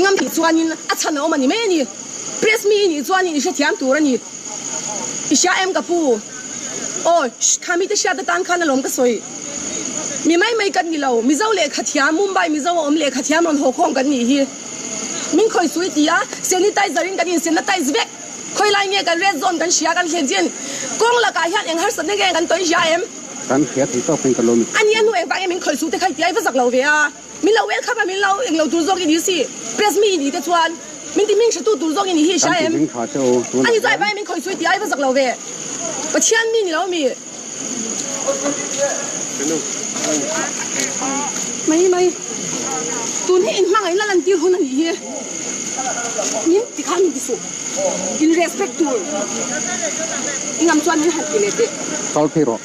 Ngam tih chuanin a chhan a awm a ni mai a ni. Press mi i nih chuanin i hrethiam tur a ni. I hria em ka pu? Aw, shh, kha mite hriatna tan khan a lawm ka sawi. Mi mai mai kan ni lo. Mizo leh Khathiam, Mumbai Mizo a awm leh Khathiam rawn haw khawm kan nih hi. Min khawi sui ti a, sanitizer in kan insenna tice vek. Khawilai nge kan red zone kan hria kan hlen chian. Kawng lakah hian eng harsatna nge kan tawi hria em? Kan hria thei tawk hian ka lo mit thei. Ani a hnu engvang in min khawi sute khai ti a, i va zak lo ve a. Min lo welcome a, min lo englo tur zawk i ni si. Press mi i ni te chuan min ti hming hratu tur zawk i ni hi hria em? Ani chuan vai min khawisuai ti ai va zawk lo ve. Pathian mi ni lo mi. Mai mai. Tun hi in hmangaih na lantir hun a nih hi. Min ti khan min ti suh. In respect tur. I ngam chuan min han ti leh teh. Kal phei rawh.